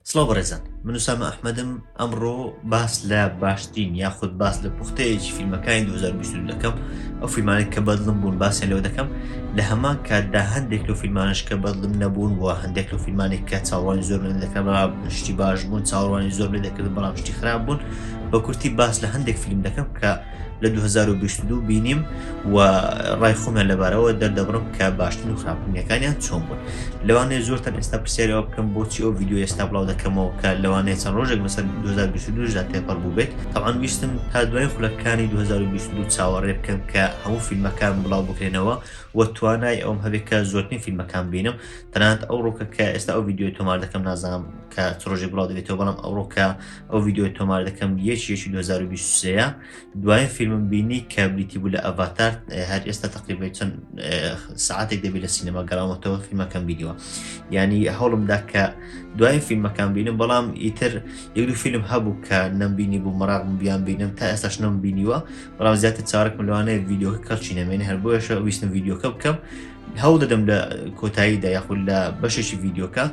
سڵاو بەڕێزان من وسامە ئەحمەدم ئەمڕۆ باس لە باشترین یاخود باس لە پوختەیەکی فیلمەکانی 2020 دەکەم ئەو فیلمانێک کە بەدڵم بوون باسیان لەوە دەکەم لە هەمان کاتدا هەندێک لە فیلمانش کە بەدڵم نەبوون و هەندێک لە فیلمانێک کە چاوانی زۆر من دەکەم شتی باش بوون چاوانی زۆر من دەکرد بەڵام شتی خراپ بوون بە کورتی باس لە هەندێک فیلم دەکەم کە لە 2022 بینیم و ڕای خۆمیان لەبارەوە دەردەبڕم کە باشتر و خراپنیەکانیان چۆن بوون لەوانەیە زۆرتان ئێستا پرسیارەوە بکەم بۆچی ئەو یددیو ئێستا بڵاو دەکەمەوە کە لەوانەیە چەند ڕۆژێک بەسەر 2022دا تێپەڕ بوو بێت تاوان ویستم تا دوای خولەکانی 2022 چاوەڕێ بکەم کە هەموو فیلمەکان بڵاو بکرێنەوە و توانای ئەوم هەبێت کە زۆرترین فیلمەکان بینم تەنانەت ئەو ڕۆکە کە ئێستا ئەو یددیو تۆمار دەکەم نازانم کە ڕۆژی بڵاو دەبێتەوە بەڵام ئەوڕۆکە ئەو ڤیددیۆی تۆمار دەکەم یەکی یەکی 2023 دوایە فیلمم بینی کە بریتی بوو لە ئەڤاتار هەر ئێستا تقریبی چەند ساعتێک دەبی لە سینەما گەڕاوەتەوە فیلمەکەم بیدیوە ینی هەوڵمدا کە دوای فیلمەکان بینم بەڵام ئیتر یەکدو فیلم هەبوو کە نەمبینی بوو مەراغم بیان بینم تا ئێستاش نم بینیوە بەڵام زیاتر چارک ملوانەیە ڤیددیۆ کەچی نەمێنێ هەر بۆیشە ویستم ڤیددیۆکە بکەم هەوڵ دەدەم لە کۆتاییدا یاخود لە بەشێکی ڤیددیۆکە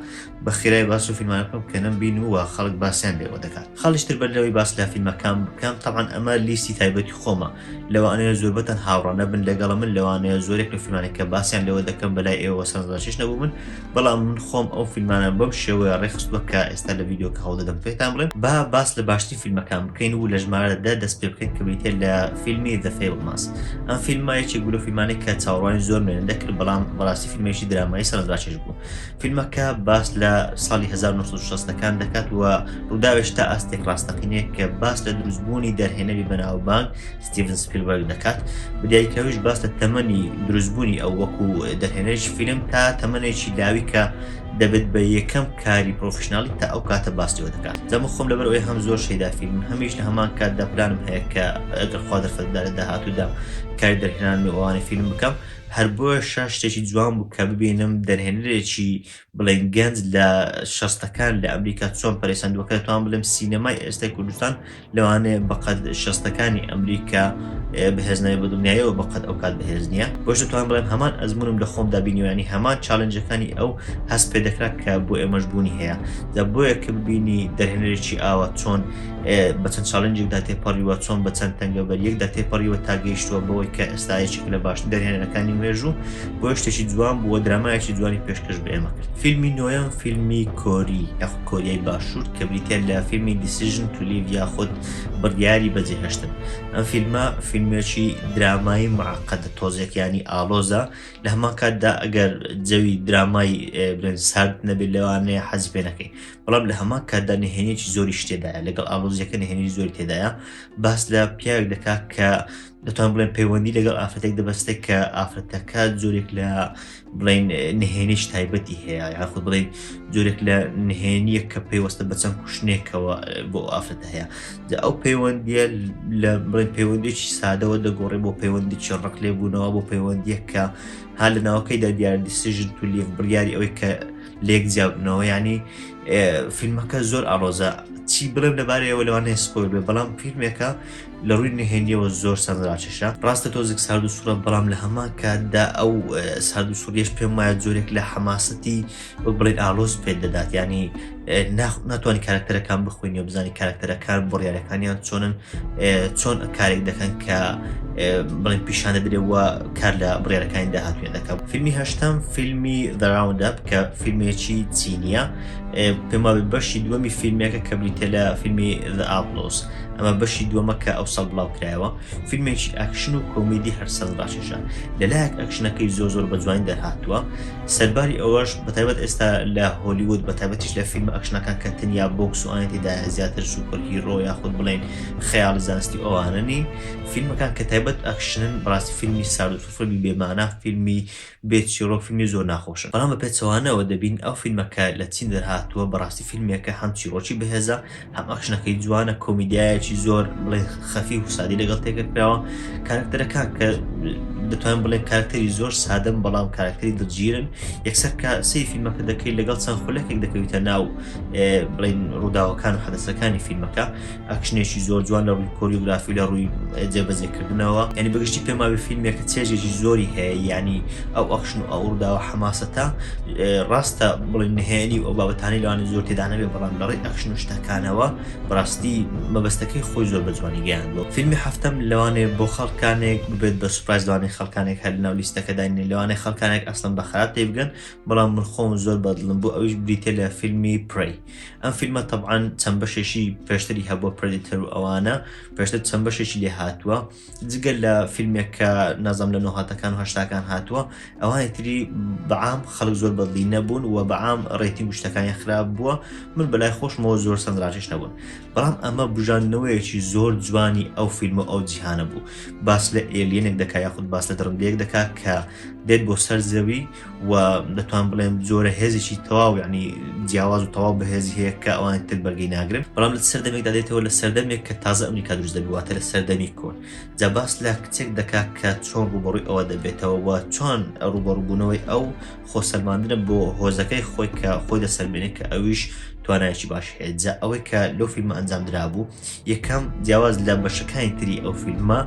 بە خێرای باس و فیلمانە بکەم کە نەم بین و خەڵک باسیان لێوە دەکات خەڵشتر بەر لەوەی باس لە فیلمەکان بکەم تاوان ئەمە لیستی تایبەتی خۆمە لەوانەیە زۆربەتەن هاوڕانە بن لەگەڵ من لەوانەیە زۆرێک لە فیلمانێکە باسیان لەوە دەکەم بەلای ئێوە سەرزاشش نەبوو من بەڵام من خۆم ئەو فیلمانە بەم شێوەیە ڕێخست بکە ئێستا لە ڤیددیوکە هەڵدەدەم پێتان بڵێن با باس لە باشتری فیلمەکان بکەین و لە ژمارەدا دەست پێ بکەین کە بریتێ لە فیلمی دەفێ ماس ئەم فیلمایەکی گولە فیلمانێک کە چاوەڕوانی زۆر مێن دەکرد بەڵام بەڕاستی فیلمێکی درامای سەرزاشش بوو فیلمەکە باس لە ساڵی 1960ەکان دەکات و ڕووداوێش تا ئاستێک ڕاستەقینەیە کە باس لە دروستبوونی دەرهێنەری بەناوبانگ ستیڤن سپیلبەرگ دەکات بدیاریکراویش باس لە تەمەنی دروستبوونی ئەو وەکو دەرهێنەرش فیلم تا تەمەێکی لاوی کە دەبێت بە یەکەم کاری پرۆفشنناڵی تا ئەو کاتە باسیەوە دەکات دەمە خۆم لەبەر ئەوی هەم زۆر شەیدا فیلم هەمیش لە هەمان کات دەپلانم هەیە کە ئەگەر خوا دەرفەتدا لە داهاتوودا کاری دەرهێنان و ئەوانی فیلم بکەم هەر بۆیەشە شتێکی جوان بوو کە ببینم دەرهێنەرێکی بڵێین گەنج لە شەستەکان لە ئەمریکا چۆن پەرسەندوەکە دەتوان بڵێم سینەمای ئێستای کوردستان لەوانەیە بەقەت شەستەکانی ئەمریکا بەهێزنای بە دنیایەوە بەقەت ئەو کات بەهێز نییە بۆش دەتوان بڵێم هەمان ئەزمونم لە خۆم دابینیوانی هەمان چاالنجەکانی ئەو هەست پێ دەکرا کە بۆ ئێمەش بوونی هەیە دە بۆیە کە ببینی دەرهێنەرێکی ئاوە چۆن بە چەند چاڵنجێکدا تێپەڕیوە، چۆن بە چەند تەنگەبەریەکدا تێپەڕیوە تا گەیشتووە بەوەی کە ئێستا یەکێکە لە باشترین دەرهێنەرەکانی مێژوو، بۆیە شتێکی جوان بوو و درامایەکی جوانی پێشکەش بە ئێمە کرد. فیلمی نۆیەم فیلمی کۆری یاخود کۆریای باشوور کە بریتیە لە فیلمی Decision to Live یاخود بڕیاری بەجێهێشتن. ئەم فیلمە فیلمێکی درامایی معقدە تۆزێک یانی ئاڵۆزە، لە هەمان کاتدا ئەگەر جەوی درامای برێن سارد نەبێت لەوانەیە حەزی پێ نەکەی، بەڵام لە هەمان کاتدا نهێنێکی زۆری شتێدایە لەگەڵ ئالۆزیەکە نهێنی زۆری تێدایە باس لە پیاوێک دەکات کە دەتوان بڵێن پەیوەندی لەگەڵ ئافرەتێک دەبەستێ کە ئافرەتەکە زۆرێک لە بڵین نهێنیش تایبەتی هەیە یاخود بڵێ زۆرێک لە نهێنیە کە پێیوەستە بە چەند کوشتنێکەوە بۆ ئافرەت هەیە ئەو پەیوەندیە لە بڵێن پەیوەندێکی سادەوە دەگۆڕێ بۆ پەیوەندی چڕق لێبوونەوە بۆ پەیوەندیە کە ها لە ناوەکەیدا دیاردی سژن تولیف بڕیاری ئەوەی کە لێک جیابنەوە ینی فیلمەکە زۆر ئاڵۆزە چی بڵێم لەبارەیەوە لەوانەیە سپۆر بێ بەڵام فیلمێکە لە ڕووی نهێنیەوە زۆر سەرراچشە ڕاستە تۆزیک سارد و سوورە بەڵام لە هەمان کاتدا ئەو سارد و سووریش پێم وایە زۆرێک لە حەماسەتی بڵێن ئالۆز پێ دەدات ینی ناتوانانی کارکتەرەکان بخوێنی و بزانانی کارکتەرەکان بڕیارەکانیان چۆنن چۆن کارێک دەکەن کە بڵێن پیشانە درێ وە کار لە بڕێرەکانی داهاتوێن دەکەم فیلمی هەشتم فیلمی دەراوندەب کە فیلمێکی چینیە پێما بەشی دووەمی فیلمێکە کە بریتە لە فیلمی ئاپلۆس ئەمە بەشی دووەمە کە ئەو سەڵ بڵاو کرایەوە فیلمێکی ئەکشن و کۆمیدی هەرسەز باشێشە لەلایەک ئەکشنەکەی زۆ زۆر بە جوانی دەرهاتووە سەرباری ئەوەش بەتایبەت ئێستا لە هۆلیوود بەتابەتیش لە فیلم ئەکشنەکان کە تەنیا بۆکس و ئاەتیدا زیاتر سوپەر هیرۆ یاخود بڵێن خەیاڵی زانستی ئەواننی فیلمەکان کە تایبەت ئەکشنن بڕاستی فیلمی سار و سوفرمی بێمانە فیلمی بێت چیرۆک فیلمی زۆر ناخۆشن بەڵام بە پێچەوانەوە دەبین ئەو فیلمەکە لە چین دەرهاتووە بەڕاستی فیلمێکە هەم چیرۆکی بەهێزە هەم ئەکشنەکەی جوانە کۆمیدیایەکی زۆر بڵێ خەفی و سادی لەگەڵ تێکە کراوە کارکتەرەکان کە دەتوان بڵێ کارکتەری زۆر سادەم بەڵام کارکتەری دڵگیرن یەکسەر کە سی فیلمەکە دەکەی لەگەڵ چەند خولەکێک دەکەویتە ناو بڵین ڕووداوەکان و حەدەسەکانی فیلمەکە ئەکشنێکی زۆر جوان لە ڕووی کۆریوگرافی لە ڕووی جێبەجێکردنەوە ینی بەگشتی پێماوی فیلمێکە چێژێکی زۆری هەیە ینی ئەو ئەخشن و ئەوڕداوە حەماسەتە ڕاستە بڵین نهێنی و ئەو بابەتانی لەوانی زۆر تێدانەوێ بەڵام لەڕێ ئەکشن و شتەکانەوە بەڕاستی مەبەستەکەی خۆی زۆر بەجوانی گەیاندوە فیلمی هەفتەم لەوانێ بۆ خەڵکانێک ببێت بە سوپایز لەوانەی خەڵکانێک هەر لەناو لیستەکەداینێ لەوانەی خەڵکانێک ئەسڵم بە خراپ پێی بگەن بەڵام من خۆم زۆر بەدڵم بۆ ئەویش بریتە لە فیلمی پڕی ئەم فیلمە تەبعاان چەند بەشێکی پێشتری هەبووە پرەدیتەر و ئەوانە پێشتر چەند بەشێکی لێ هاتووە جگە لە فیلمێک کە نازم لە نۆهاتەکان و هەشتاکان هاتووە ئەوانی تری بەعام خەڵک زۆر بەدلی نەبوون و بەعام ڕێتی گشتەکانی خراپ بووە من بەلای خۆشمەوە زۆر سەندراژش نەبوون بەڵام ئەمە بژاندنەوەیەکی زۆر جوانی ئەو فیلمە ئەو جیهانە بوو باس لە ئێلیەنێک دەکا یاخود باس لە دڕندەیەک دەکات کە دێت بۆ سەر زەوی و دەتوان بڵێم جۆرە هێزێکی تەواو ینی جیاواز و تەواو بەهێزی هەیە کە ئەوان تر بەرگی ناگرن بەڵام لە سەردەمێکدا دێتەوە لە سەردەمێک کە تازە ئەمریکا دروست دەبواتە لە سەردەمی کۆن جا باس لە کچێک دەکات کە چۆن ڕوبڕوی ئەوە دەبێتەوە و چۆن ڕوبەڕبوونەوەی ئەو خۆسەلماندنە بۆ هۆزەکەی خۆی کە خۆی دەسەرمێنێت کە ئەویش توانایکی باش هەیە جا ئەوەی کە لەو فیلمە ئەنجام درابوو یەکەم، جیاواز لە بەشەکانی تری ئەو فیلمە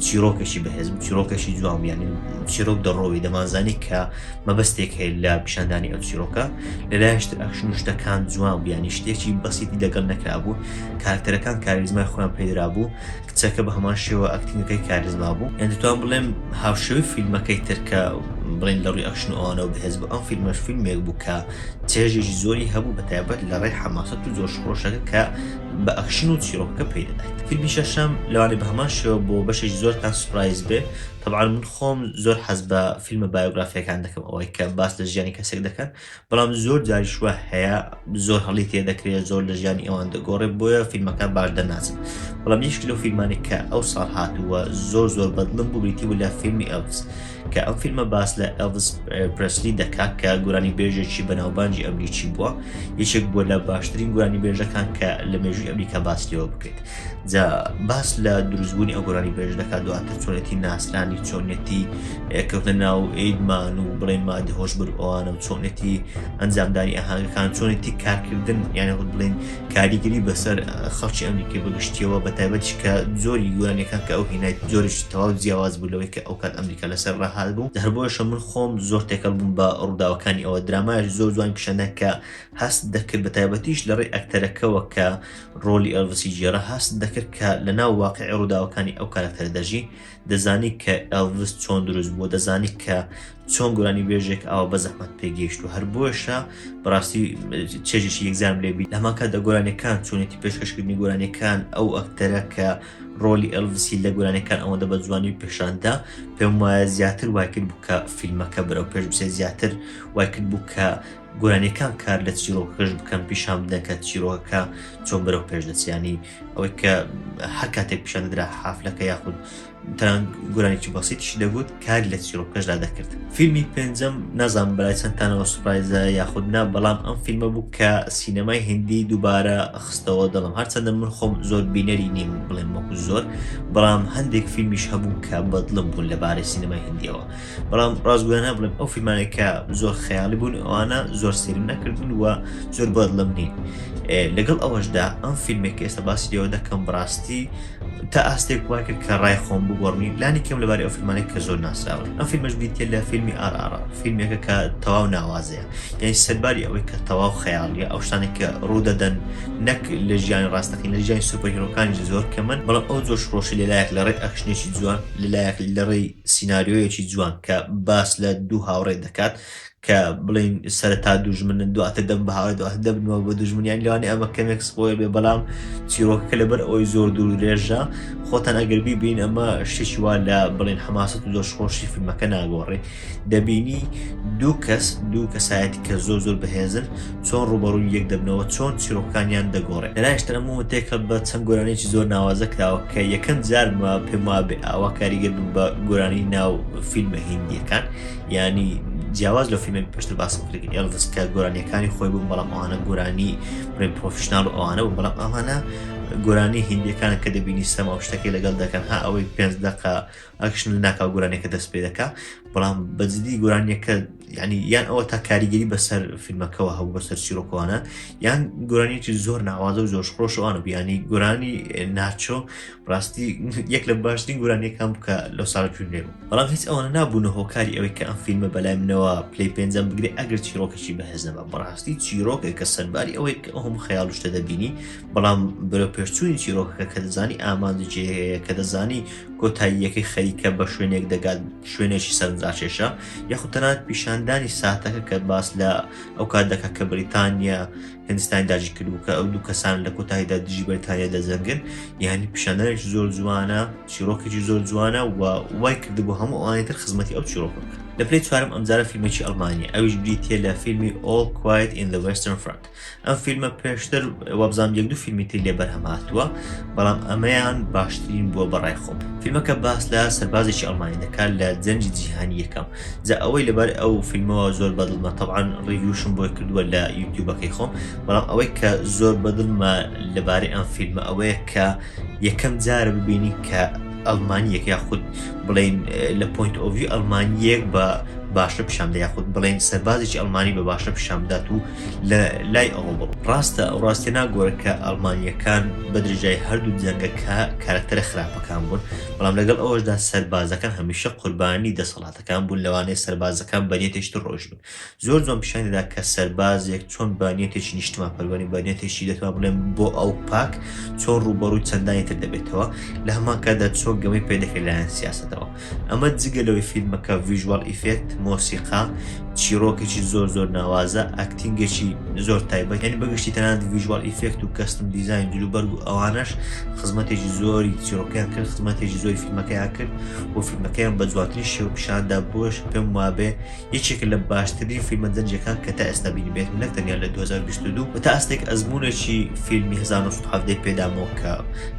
چیرۆکەشی بەهێز بوو چیرۆکەشی جوام یانی چیرۆک دەڕۆی دەمانزانی کە مەبەستێک هەیە لە پیشاندانی ئەو چیرۆکە لەلایشتر ئەخشن شتەکان جوان بیانی شتێکی بەسیتی لەگەڵ نەکرابوو کارکتەرەکان کاریزمای خۆیان پێدرا بوو کچەکە بە هەمان شێوە ئەکتینگەکەی کاریزما بوو یان دەتوان بڵێم هاوشێوی فیلمەکەی ترکە بڵین لە ڕووی ئەخشن ئەوانەوە بەهێز بوو ئەم فیلمەش فیلمێک بوو کە چێژێکی زۆری هەبوو بە تایبەت لە ڕێی حەماسەت و زۆر شڕۆشەکە کە بە ئەکشن و چیڕۆکەکە پەی دەدایت. فیلمی شەشەم لەوانەیە بە هەمان شێوە بۆ بەشێکی زۆرتان سوپرایز بێ، تەبعەن من خۆم زۆر حەز بە فیلمە بایۆگرافییەکان دەکەم ئەوەی کە باس لە ژیانی کەسێک دەکەن بەڵام زۆر جاریش وا هەیە زۆر هەڵی تێ دەکرێ زۆر لە ژیانی ئەوان دەگۆڕێ بۆیە فیلمەکان باش دەرناچن بەڵام یەکێکی لەو فیلمانەی کە ئەوساڵ هاتووە زۆر زۆر بەدڵم بوو بریتی بوو لە فیلمی ئێلڤس کە ئەم فیلمە باس لە ئەلڤس پرسلی دەکات کە گورانی بێژێکی بەناوبانجی ئەمریکی بووە یەکێک بووە لە باشترین گورانی بێژەکان کە لە مێژوی ئەمریکا باسیەوە بکرێت جا باس لە دروستبوونی ئەو گورانی بێژ دەکات دواتر چۆنێتی ناسرانی چۆنێتی کەوتە ناو ئیدمان و بڵێن مادە هۆش بر ئەوانە و چۆنێتی ئەنجامدانی ئاهاگەکان چۆنێتی کارکردن یانە بڵێن کاریگەری بەسەر خەڵکی ئەمریکی بەگشتیەوە بە تایبەتیش کە زۆری یوانەکان کە ئەو هینایت زۆریش تەواو جیاواز بوو لەوەی کە ئەو کات ئەمریکا لەسەر ڕاهات بوو هەر بۆیشە من خۆم زۆر تێکەڵ بووم بە ڕووداوەکانی ئەوە درامایش زۆر جوان پیشەنە کە هەست دەکرد بە تایبەتیش لە ڕێی ئەکتەرەکەەوە کە ڕۆلی ئەلڤسی جێرە هەست دەکرد کە لە ناو واقعی ڕووداوەکانی ئەو کارکتەر دەژی دەزانی کە ئەلڤس چۆن دروست بووە دەزانی کە چۆن گورانی بێژێک ئاوا بە زەحمت پێگەیشت و هەر بۆشە بەڕاستی چێژێکی یەکزان لێبی لەماکە دە گۆرانەکان چۆنێتی پێشکەشکردنی گۆرانەکان ئەو ئەکتەرە کە ڕۆلی ئەلڤسی لە گۆرانەکان ئەوەندە بە جوانی پێشاندا پێم وایە زیاتر وایکرد بکە فیلمەکە بەرەو پێش بسێ زیاتر وایکرد بوو کە گۆرانیەکان کار لە چیرۆکەش بکەن پیشان بدەن کە چیرۆکە چۆن بەرەو پێشدەچیانی ئەوەی کە هەر کاتێک پیشان دەدرا حافلەکە یاخود تەران گۆرانێکی بەسیتیشی دەگوت کار لە چیرۆکەشدا دەکرد فیلمی پێنجەم نازان برای چەندتانەوە سوپایزە یاخود نا بەڵام ئەم فیلمە بوو کە سینەمای هندی دووبارە خستەوە دەڵم هەرچەندە من خۆم زۆر بینەری نیم بڵێن وەکو زۆر بەڵام هەندێک فیلمیش هەبوو کە بەدڵم بوون لەبارەی سینەمای هندیەوە بەڵام ڕاستگۆیانە بڵێم ئەو فیلمانێ کە زۆر خەیاڵی بوون ئەوانە زۆر سرم نەکردن و زۆر بەدڵم نین لەگەڵ ئەوەشدا ئەم فیلمێک ئێستا باسی لێەوە دەکەم بڕاستی تا ئاستێک وای کرد کە ڕای خۆم بگۆڕنی لانی کەم لەبارەی ئەو فیلمانێک کە زۆر ناسراون ئەم فیلمەش بیتێ لە فیلمی ئارارا فیلمێکە کە تەواو ناوازەیە یعنی سەرباری ئەوەی کە تەواو خەیاڵیە ئەو شتانێک کە ڕوودەدەن نەک لە ژیانی ڕاستەکەی لە ژیانی سوپەرهیرۆکانی زۆر کەمن بەڵام ئەو زۆر شڕۆشی لەلایەک لە ڕێی ئەخشنێکی جوان لەلایەک لە ڕێی سیناریۆیەکی جوان کە باس لە دوو هاوڕێ دەکات کە بڵین سەرتا دوژمنن دواتر دەم بە هاوڕێ دواتر دەبنەوە بە دوژمنیان لەوانی ئەمە کەمێک سپۆیل بێ بەڵام چیرۆکەکە لەبەر ئەوەی زۆر دوور درێژە خۆتان ئەگەر بیبین ئەمە شتێکی وا لە بڵین حەماسەت و زۆش خۆشی فیلمەکە ناگۆڕێ دەبینی دوو کەس دوو کەسایەتی کە زۆر زۆر بەهێزن چۆن ڕوبەڕووی یەک دەبنەوە چۆن چیرۆکەکانیان دەگۆڕێ لەلایشتر ئەم موومەنتەیەکە بە چەند گۆرانیەکی زۆر ناوازە کراوە کە یەکەم جار بە پێم وابێ ئاوا کاریگەر بن بە گۆرانی ناو فیلمە هندیەکان ینی جیاواز لە فیلمێک پێشتر باسم کرد ئێلڤس کە گۆرانیەکانی خۆی بوون بەڵام ئەوانە گۆرانی بڵێن پرۆفشنال و ئەوانە بوو بەڵام ئەوانە گۆرانی هندیەکانە کە دەبینی سەما شتەکەی لەگەڵ دەکەن ها ئەوەی پێنج دقە ئەکشن لە ناکاو گۆرانیەکە دەست پێ دەکا بەڵام بەجددی گۆرانیەکە ینی یان ئەوە تا کاریگەری بەسەر فیلمەکەەوە هەبوو بەسەر چیرۆکوانە یان گۆرانیەکی زۆر ناوازە و زۆر خۆشەوانە بیانی گۆرانی ناچۆ ڕاستی یەک لە باشترین گۆرانیەکان بکە لە ساڵ جوێ بوو بەڵام هیچ ئەوانە نابوونە هۆکاری ئەوەی کە ئەم فیلمە بەلای منەوە پلی پێنجەم بگرێ ئەگەر چیرۆکەشی بەهێز نەبە بەڕاستی چیرۆکێک کە سەرباری ئەوەی کە ئەوم خەیاڵ شتە دەبینی بەڵام بەرە پێشچووی چیرۆکەکە کە دەزانی ئامانجێ کە دەزانی کۆتاییەکەی خەریکە بە شوێنێک دەگات شوێنێکی سەرنجڕاکێشە یاخود تەنانەت پیشاندانی ساتەکە کە باس لە ئەو کات دەکە کە بریتانیا هندستانی داژی کردو کە ئەو دوو کەسان لە کۆتاییدا دژی بەریتانیا دەزەنگن یعنی پیشاندانێکی زۆر جوانە چیرۆکێکی زۆر جوانە و وای کردی بۆ هەموو ئەوانێتر خزمەتی ئەو چیرۆکەکە لە پلی چوارم ئەمجارە فیلمێکی ئەلمانیا ئەویش بریتە لە فیلمی ئۆڵ کوایت in the Western Front ئەم فیلمە پێشتر وابزانم یەک دوو فیلمی تری لێ بەرهەم هاتووە بەڵام ئەمەیان باشترین بووە بەڕای خۆم فیلمەکە باس لە سەربازێکی ئەڵمانی دەکات لە جەنجی جیهانی یەکەم جا ئەوەی لەبەر ئەو فیلمەوە زۆر بەدڵمە تەعاان ڕیوشم بۆی کردووە لە یوتیوبەکەی خۆم بەڵام ئەوەی کە زۆر بەدڵمە لەبارەی ئەم فیلمە ئەوەیە کە یەکەم جارە ببینی کە ئەلمانیەک یاخود بڵین لە پوینت ئۆڤی ئەلمانیەک بە باشە پیشامدا یاخود بڵین سەربازێکی ئەلمانی بە باشە پیشامدات و لە لای ئەوەوە ڕاستە ئەو ڕاستێ ناگۆرە کە ئەڵمانیەکان بەدرێژای هەردوو جەنگەکە کارکتەرە خراپەکان بوون بەڵام لەگەڵ ئەوەشدا سەربازەکان هەمیشە قوربانی دەسەڵاتەکان بوون لەوانەیە سەربازەکان بەنیەتێکی تر ڕۆژ بن زۆر جوان پیشانی دەدا کە سەربازێک چۆن بانیەتێکی نیشتمان پەروەری بانیەتێکی دەتوان بڵێن بۆ ئەو پاک چۆن ڕووبەڕووی چەندانی تر دەبێتەوە لە هەمان کاتدا چۆن گەمەی پێدەکرێت لایەن سیاستەوە ئەمە جگە لەوەی فیلمەکە ڤیژوال ئیفێکت، مۆسیقا، چیڕۆکێکی زۆر زۆر ناوازە، ئەکتینگێکی زۆر تایبەت یانی بەگشتی تەنانەت ڤیژوال ئیفێکت و کەستم دیزاین جلوبەرگ و ئەوانەش خزمەتێکی زۆری چیڕۆکەیان کرد خزمەتێکی زۆری فیلمەکەیان کرد و فیلمەکەیان بە جوانترین شێوە پیشاندا بۆش پێم وابێ یەکێکە لە باشترین فیلمە دەنجەکان کە تا ئێستا بینیبێت نەک تەنیا لە 2022 بە تا ئاستێک ئەزموونێکی فیلمی 1970 پێدامەوە کە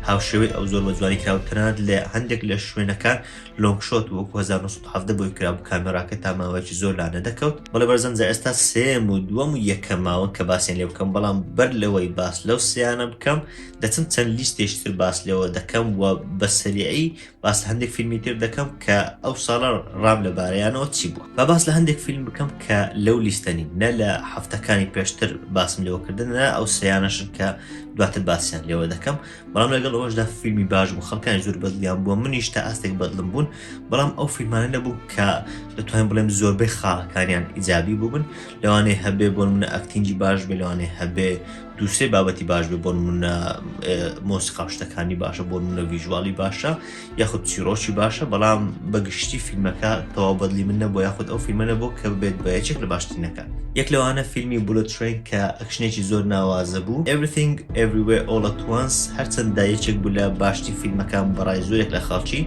هاوشێوەی ئەو زۆر بە جوانی کراو تەنانەت لە هەندێک لە شوێنەکان لۆنگ شۆت وەکو 1970 بۆی کرابوو کامێراکە تا ماوەیەکی زۆر لا نەدەکەوت بەڵێ بەرزان جا ئێستا سێم و دووەم و یەکەم ماون کە باسیان لێ بکەم بەڵام بەر لەوەی باس لەو سیانە بکەم دەچم چەند لیستێشتر باس لێەوە دەکەم و بە سەریعی باس لە هەندێک فیلمی تر دەکەم کە ئەو ساڵە ڕام لە بارەیانەوە چی بوو بە باس لە هەندێک فیلم بکەم کە لەو لیستەنی نە لە هەفتەکانی پێشتر باسم لەوەکردن نە ئەو سیانەشن کە دواتر باسییان لێوە دەکەم بەڵام لەگەڵ ئەوشدا فیلمی باش بوو خەڵکان زۆر بەدلیان بووە منیش تا ئاستێک بەدلم بوون بەڵام ئەو فیلمانە نەبوو کە دەتوانین بڵێم زۆربەی خاڵەکانیان ئیجابی بووبن لەوانەیە هەبێ بۆ منە ئەکتینجی باش بێ لەوانێ هەبێ دوو سێ بابەتی باش بێ بۆ نمونە مۆسیقا و شتەکانی باشە بۆ نمونە ویژواڵی باشە یاخود چیرۆکی باشە بەڵام بەگشتی فیلمەکە تەواو بەدلی من نەبوو یاخود ئەو فیلمەنە بۆ کە بێت بە یەکێک لە باشترینەکە یەک لەوانە فیلمی بولە ترین کە ئەکشنێکی زۆر ناوازە بوو everything everywhere all at once هەرچەند دایەکێک بوو لە باشتی فیلمەکان بەڕای زۆرێک لە خەڵکی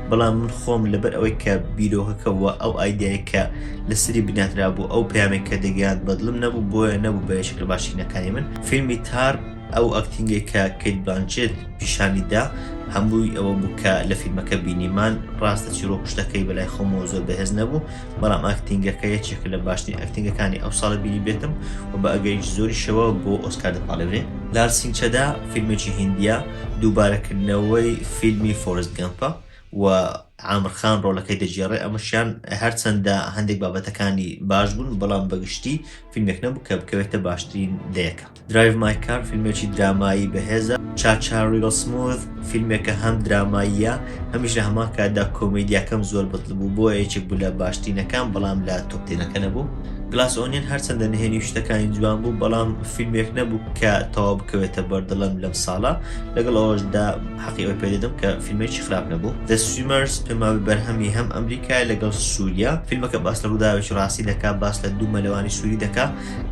بەڵام من خۆم لەبەر ئەوەی کە بیرۆکەکەەوە ئەو ئایدایکە لەسەری بنیاتنرابوو ئەو پەیامەی کە دەگەیاند بەدڵم نەبوو بۆیە نەبوو بە یەکێک لە باشترینەکانی من فیلمی تار ئەو ئەکتینگەی کە کەیت بلانچێت پیشانی دا هەمووی ئەوە بوو کە لە فیلمەکە بینیمان ڕاستە چیرۆک شتەکەی بەلای خۆمەوە زۆر بەهێز نەبوو بەڵام ئەکتینگەکە یەکێکە لە باشترین ئەکتینگەکانی ئەو ساڵە بینی بێتم و بە ئەگەریکی زۆری شەوە بۆ ئۆسکار دەپاڵێورێ لارسینچەدا فیلمێکی هیندیە دووبارەکردنەوەی فیلمی فۆرست گەمپە و عامر خان ڕۆلەکەی دەگێڕێ ئەمەشیان هەرچەندە هەندێک بابەتەکانی باش بوون بەڵام بەگشتی فیلمێک نەبوو کە بکەوێتە باشترین دەیەکە درایڤ مایکار فیلمێکی درامایی بەهێزە چاچاریۆ سموث فیلمێکە هەم دراماییە هەمیش لە هەمان کاتدا کۆمیدیاکەم زۆر بەتڵ بوو بۆ یەکێک بوو لە باشتینەکان بەڵام لە تۆپتێنەکە نەبوو گلاس ئۆنیەن هەرچەندە نهێنی شتەکانی جوان بوو بەڵام فیلمێک نەبوو کە تەوا بکەوێتە بەردەڵم لەم ساڵە لەگەڵ ئەوەشدا حەقی ئەوەی پێ دەدەم کە فیلمێکی خراپ نەبوو The Swimmers پێماوەی بەرهەمی هەم ئەمریکایە لەگەڵ سووریا فیلمەکە باس لە ڕووداوێکی ڕاستی دەکا باس لە دوو مەلەوانی سووری دەکا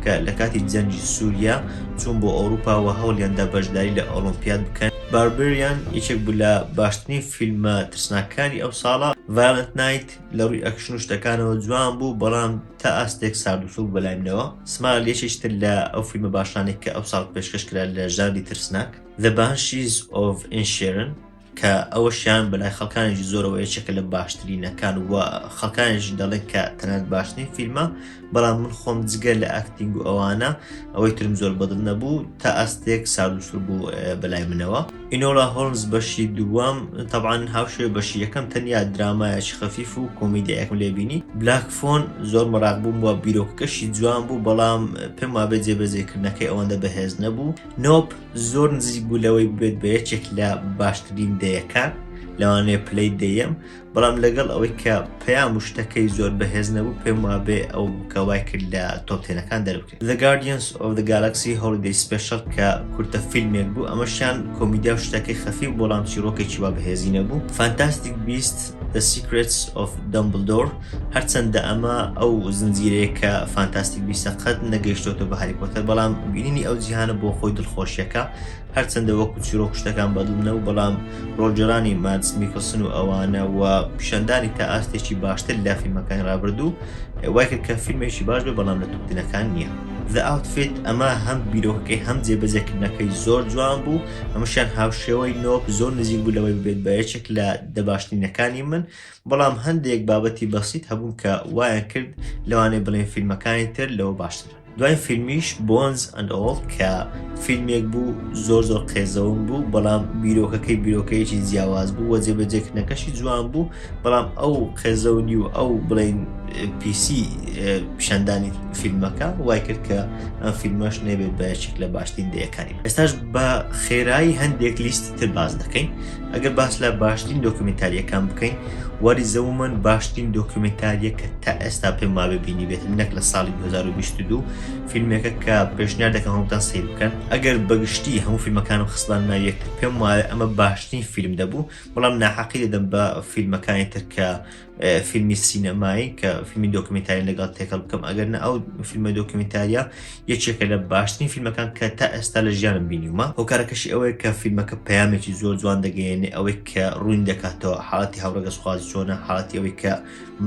کە لە کاتی جەنگی سووریا چوون بۆ ئەوروپا و هەوڵیاندا بەشداری لە ئۆڵۆمپیاد بکەن باربریان یەکێک بوو لە باشترین فیلمە ترسناکەکانی ئەو ساڵە ڤایۆلەنت نایت لە ڕووی ئەکشن و شتەکانەوە جوان بوو بەڵام تا ئاستێک سارد و سووک بەلای منەوە سمایل یەکێکی تر لە ئەو فیلمە باشانێک کە ئەو ساڵ پێشکەش کرا لە ژانری ترسناک The Banshees of Inisherin کە ئەوەشیان بەلای خەڵکانێکی زۆرەوە یەکێکە لە باشترینەکان و خەڵکانێش دەڵێن کە تەنات باشترین فیلمە بەڵام من خۆم جگە لە ئەکتینگ و ئەوانە ئەوەی ترم زۆر بەدڵ نەبوو تا ئەستێک ساردوسور بوو بەلای منەوە ئینۆلا هۆلمز بەشی دووەم تەبان هاوشێ بەشی یەکەم تەنیا درامایەکی خەفیف و کۆمیدیایەکم لێبینی بلاک فۆن زۆر مەراق بووم وە بیرۆکەکەشی جوان بوو بەڵام پێم وابێ جێبەجێکردنەکەی ئەوەندە بەهێز نەبوو نۆب زۆر نزیک بوو لەوەی بێت بە یەکێک لە باشترین دەیەکان لەوانەیە پلەی دەیەم بەڵام لەگەڵ ئەوەی کە پەیام و شتەکەی زۆر بەهێز نەبوو پێم وابێ ئەو بکەوای کرد لە تۆپتێنەکان دەربکرێت The Guardians of the Galaxy Holiday Special کە کورتە فیلمێک بوو ئەمەشیان کۆمیدیا و شتەکەی خەفی بۆڵام چیرۆکێکی وا بەهێزی نەبوو فانتاستیک بیست The Secrets of Dumbledore هەرچەندە ئەمە ئەو زنجیرەیە کە فانتاستیک بیستە قەت نەگەیشتۆتە بە هاری پۆتەر بەڵام بینینی ئەو جیهانە بۆ خۆی دڵخۆشیەکە هەرچەندە وەکو چیرۆک شتەکان بەدڵ نەبوو بەڵام ڕۆلگێڕانی مادس میکلسن و ئەوانە و پیشاندانی تا ئاستێکی باشتر لە فیلمەکانی ڕابردوو وای کرد کە فیلمێکی باش بێ بەڵام لە توپتنەکان نییە. The Outfit ئەمە هەم بیرۆکەکەی هەم جێبەجێکردنەکەی زۆر جوان بوو هەمووشیان هاوشێوەی نۆپ زۆر نزیک بوو لەوەی ببێت بە یەکێک لە دە باشترینەکانی من بەڵام هەندێک بابەتی بەسیت هەبوون کە وایان کرد لەوانەیە بڵێن فیلمەکانی تر لەوە باشترن. دوایین فیلمیش Bones and All کە فیلمێک بوو زۆر زۆر قێزەون بوو، بەڵام بیرۆکەکەی بیرۆکەیەکی جیاواز بوو وە جێبەجێکردنەکەشی جوان بوو، بەڵام ئەو قێزەونی و ئەو بڵێن پیسی پیشاندانی فیلمەکە وای کرد کە ئەم فیلمەش نەبێت بە یەکێک لە باشترین دەیەکانی. ئێستاش بە خێرایی هەندێک لیستی تر باس دەکەین ئەگەر باس لە باشترین دۆکمنتاریەکان بکەین واری زەومن باشترین دۆکمنتاریە کە تا ئێستا پێ ماوێ بینی بێت نەک لە ساڵی 2022 فیلمێکە کە پێشنیار دەکەم هەمووتان سیر بکەن ئەگەر بەگشتی هەموو فیلمەکانم خستان ناویەک پێم وایە ئەمە باشترین فیلم دەبوو بەڵام ناحەقی دەدەم بە فیلمەکانی ترکە فیلمی سینەمایی کە فیلمی دۆکمنتاری لەگەڵ تێکەڵ بکەم ئەگەر نە ئەو فیلمە دۆکمنتاریە یەکێکە لە باشترین فیلمەکان کە تا ئێستا لە ژیانم بینیومە هۆکارەکەشی ئەوەیە کە فیلمەکە پەیامێکی زۆر جوان دەگەیەنێ ئەوەی کە ڕوون دەکاتەوە حاڵەتی هاوڕێگەسخوازی چۆنە حاڵەتی ئەوەی کە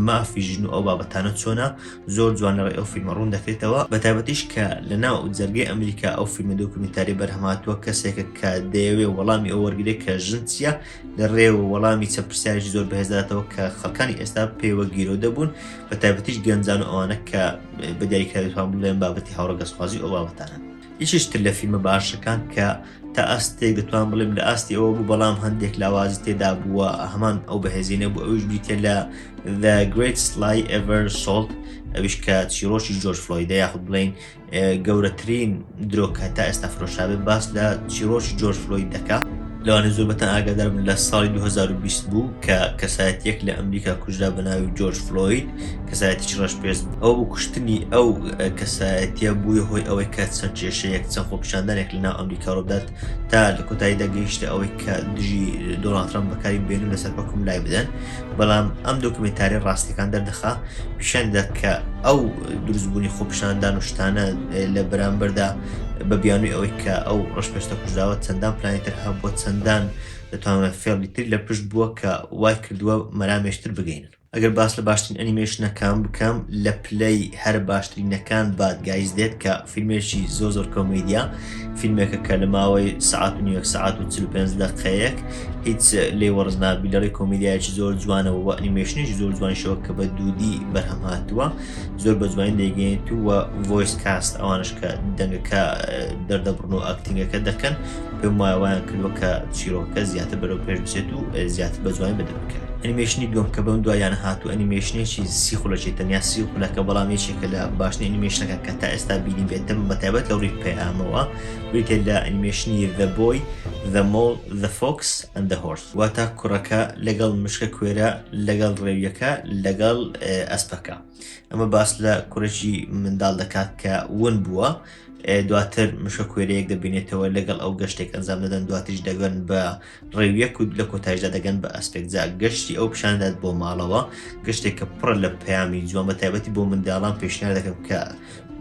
مافی ژن و ئەو بابەتانە چۆنە زۆر جوان لەڕێ ئەو فیلمە ڕوون دەکرێتەوە بە تایبەتیش کە لە ناو جەرگی ئەمریکا ئەو فیلمە دۆکمنتاری بەرهەماتوە کەسێکە کە دەیەوێ وەڵامی ئەو وەرگێ کە ژن چیە لە ڕێ و وەڵامی چە پرسیارێکی زۆر بەهێزداتەوە کە خەکانی ئێستا پێوە گیرۆ دەبوون بە تایبەتیش گەنجان و ئەوانە کە بە دیاریکاریتوان بڵێن بابەتی هاوڕگەسخوازی ئەو بابەتانە یشتر لە فیلمە باشەکان کە تا ئاستێک دەتوان بڵێم لە ئاستی ئەوە بوو بەڵام هەندێک لاوازی تێدا بووە هەمان ئەو بەهێزینە بوو ئەوش بیتێ لە The Great Sly Ever Salt ئەوش کە چیرۆشی جۆرج فلۆیدە یاخود بڵین گەورەترین درۆک هەتا ئێستا فرۆشابێت باس لە چیرۆکی جۆرج فلۆید دەکات لەوانە زۆر بەتەن ئاگادارم لە ساڵی 2020 بوو کە کەسایەتەک لە ئەمریکا کوژرا بە ناوی جۆرج فلۆید کەسایەتیی ڕەش پێست ئەو بۆ کوشتنی ئەو کەسایەتە بووە هۆی ئەوەی کە چەند کێشەیەک چەند خۆپیشاندانێک لە ناو ئەمریکا ڕوودات تا لە کۆتاییدا گەیشتە ئەوەی کە دژی دۆڵاتران بەکاری بێنن لەسەر حکوم لای بدەن بەڵام ئەم دۆکمێنتاریە ڕاستیەکان دەردەخا پیشان دەدات کە ئەو دروستبوونی خۆپشاندان و شتانە لە بەرامبەردا بە بیانوی ئەوەی کە ئەو ڕشپێستە کوژداوە چەندان پلانیتر هەبووە چەندان دەتوانە فێڵی تر لە پشت بووە کە وای کردووە مەرامێشتر بگەین ئەگەر باس لە باشترین ئەنیمێشنەکان بکەم لە پلەی هەرە باشترینەکان بادگایز دێت کە فیلمێکی زۆ زۆر کۆمیدیا فیلمێکە کە لە ماوەی سعات و نیوەک سعات و 45 دقەیەک هیچ لێ وەرز نابی لەڕێ کۆمیدایکی زۆر جوانەوە و ئەنیمێشنیش زۆر جوانشەوە کە بە دوودی بەرهەم هاتووە زۆر بە جوانی دەیگەێنیت و ڤۆیس کاست ئەوانش کە دەنگەکە دەردەبڕن و ئەکتنگەکە دەکەن پێم وایوان کردوە کە چیرۆکە زیاتر بەرەو پێش بچێت و زیاتر بە جوانی بدەن بکەن. ئەنیمەیشنی دووەم کە بەم دواییانە هاتووە ئەنیمەیشنێکی سی خولەکی تەنیا سی خولەکە بەڵام یەکێکە لە باشترین ئەنیمەیشنەکان کە تا ئێستا بینیبێتم بە تایبەت لە ڕووی پەیامەوە بریتییە لە ئەنیمەیشنی The Boy The Mole The Fox and The Horse واتە کوڕەکە لەگەڵ مشکە کوێرە لەگەڵ ڕێویەکە لەگەڵ ئەسپەکە ئەمە باس لە کوڕێکی منداڵ دەکات کە ون بووە دواتر مشە کوێرەیەک دەبینێتەوە لەگەڵ ئەو گەشتێک ئەنجام دەدەن دواتریش دەگەن بە ڕێویەک و لە کۆتایشدا دەگەن بە ئەسپێک جا گەشتی ئەو پیشاندات بۆ ماڵەوە گەشتێک کە پڕە لە پەیامی جوان بە تایبەتی بۆ منداڵان پێشنیار دەکەم کە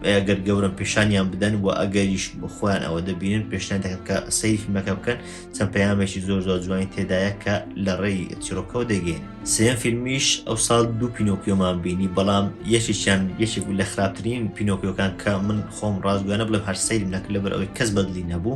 ئەگەر گەورم پیشانیان بدەن و ئەگەریش بخۆیان ئەوە دەبینن پێشنیان دەکەم کە سەیری فیلمەکە بکەن چەند پەیامێکی زۆر زۆر جوانی تێدایە کە لە ڕێی چیرۆکەوە دەگەین سێم فیلمیش ئەو ساڵ دوو پینۆکیۆمان بینی بەڵام یەکێکیان یەکێک لە خراپترین پینۆکیۆکان کە من خۆم ڕاستگویانە بڵێم هەر سەیرم نەکرد لەبەر ئەوەی کەس بەدلی نەبوو